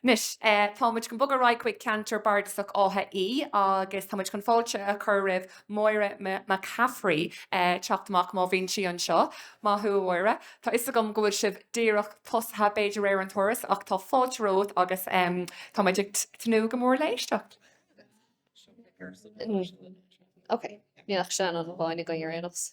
Anois, tá muid chun bogadh ar aghaidh chuig ceantar bardasach Átha Í agus tá muid chun fáilte a chur roimh Mháire McCaffrey chun teacht amach, má bhíonn sí anseo. Maith thú, a Mháire. Tá 'fhios agam go bhfuil sibh díreach tosaithe, b'fhéidir, ar an turas ach tá fáilte romhat agus tá muid ag tnúth go mór le éisteacht. Níl ach Seanán amháin againn ar aon nós.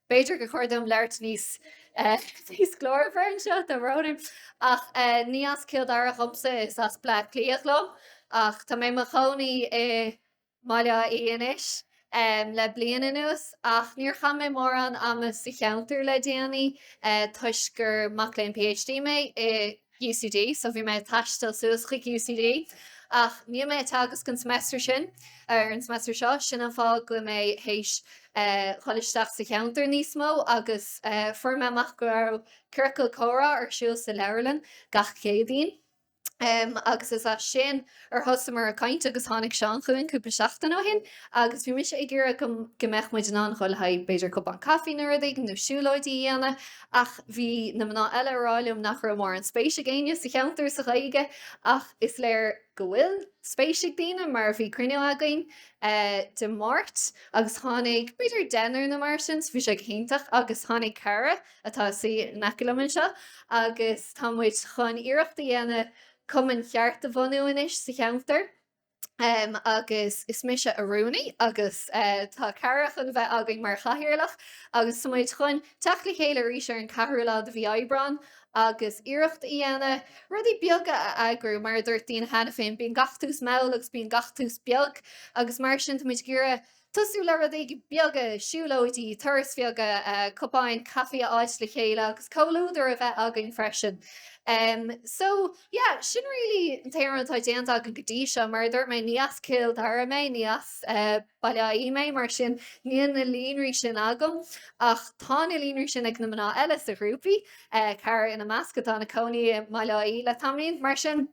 B'fhéidir gur chóir dom labhairt níos, níos glórmhaire anseo do Rónán, ach ní as Cill Dara dhomsa, is as Bleá Cliath dhom, ach tá mé i mo chónaí i mBaile Átha Í anois le bliain anuas. Ach níor chaith mé mórán ama sa cheantar le déanaí toisc gur mac léinn PhD mé i. UCD, so bhí mé ag taisteal suas chuig UCD ach níl mé ag teagasc an semester sin, er, an semester seo, sin an fáth go mbím théis dhul isteach sa cheantar níos mó agus, eh, fuair mé amach go raibh ciorcal comhrá ar siúl sa leabharlann gach Céadaoin, em, agus is as sin, ar thosamar ag caint agus tháinig Seán chugainn cúpla seachtain ó shin agus bhí mise ag iarraidh go mbeadh muid in ann dhul le haghaidh b'fhéidir cupán caife nó rud éigin nó siúlóidí a dhéanamh ach bhí na mná eile a rá liom nach raibh mórán spéis ag éinne sa cheantar sa Ghaeilge ach is léir go bhfuil spéis ag daoine mar bhí cruinniú againn Dé Máirt agus tháinig b'fhéidir deichniúr nó mar sin so bhí sé go hiontach agus tháinig Cara atá suite in aice liom anseo agus tá muid chun iarracht a dhéanamh cumann ceart a bhunú anois sa cheantar agus is mise an rúnaí agus tá Cara chun bheith againn mar chathaoirleach agus tá muid chun teacht le chéile arís ar an 4ú lá de mhí Aibreáin agus iarracht a dhéanamh rudaí beaga a eagrú. Mar a dúirt daoine cheana féin, bíonn gach tús mall agus bíonn gach tús beag agus mar sin tá muid ag iarraidh Tosú le rudaí beaga, siúlóidí, turais bheaga, cupáin caifí a fháil le chéile agus comhluadar a bheith againn freisin. So, yeah, sin really an t-aon rud atá déanta againn go dtí seo. Mar a dúirt mé, ní as Cill Dara mé, ní as Baile Átha Í mé, mar sin níl na líonraí sin agam. Ach tá na líonraí sin ag na mná eile sa ghrúpa, Cara ina measc, atá ina cónaí i mBaile Átha Í le tamaillín. Mar sin.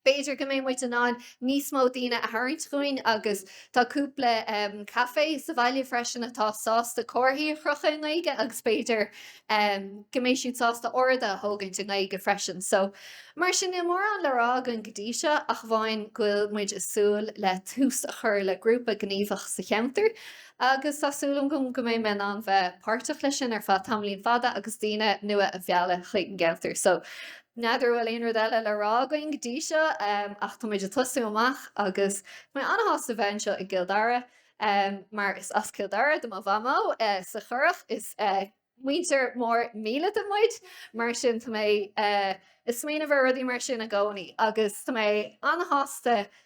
B'fhéidir go mbeidh muid in ann níos mó daoine a tharraingt chugainn agus tá cúpla caifé sa bhaile freisin atá sásta comharthaí a chrochadh i nGaeilge agus b'fhéidir go mbeidh siad sásta ord a thógaint i nGaeilge freisin. So, mar sin, níl mórán le rá againn go dtí seo ach amháin go bhfuil muid ag súil le tús a chur le grúpa gníomhach sa cheantar agus tá súil agam go mbeidh mé in ann bheith páirteach leis sin ar feadh tamaillín fada agus daoine nua a mhealladh chuig an gceantar. So. N'fheadar an bhfuil aon rud eile le rá againn go dtí seo ach tá muid ag tosú amach agus tá mé an-shásta bheith anseo i gCill Dara mar is as Cill Dara do mo mhamó sa Churrach. Is muintir mór míleata muid mar sin tá mé ag smaoineamh ar rudaí mar sin i gcónaí agus tá mé an-shásta go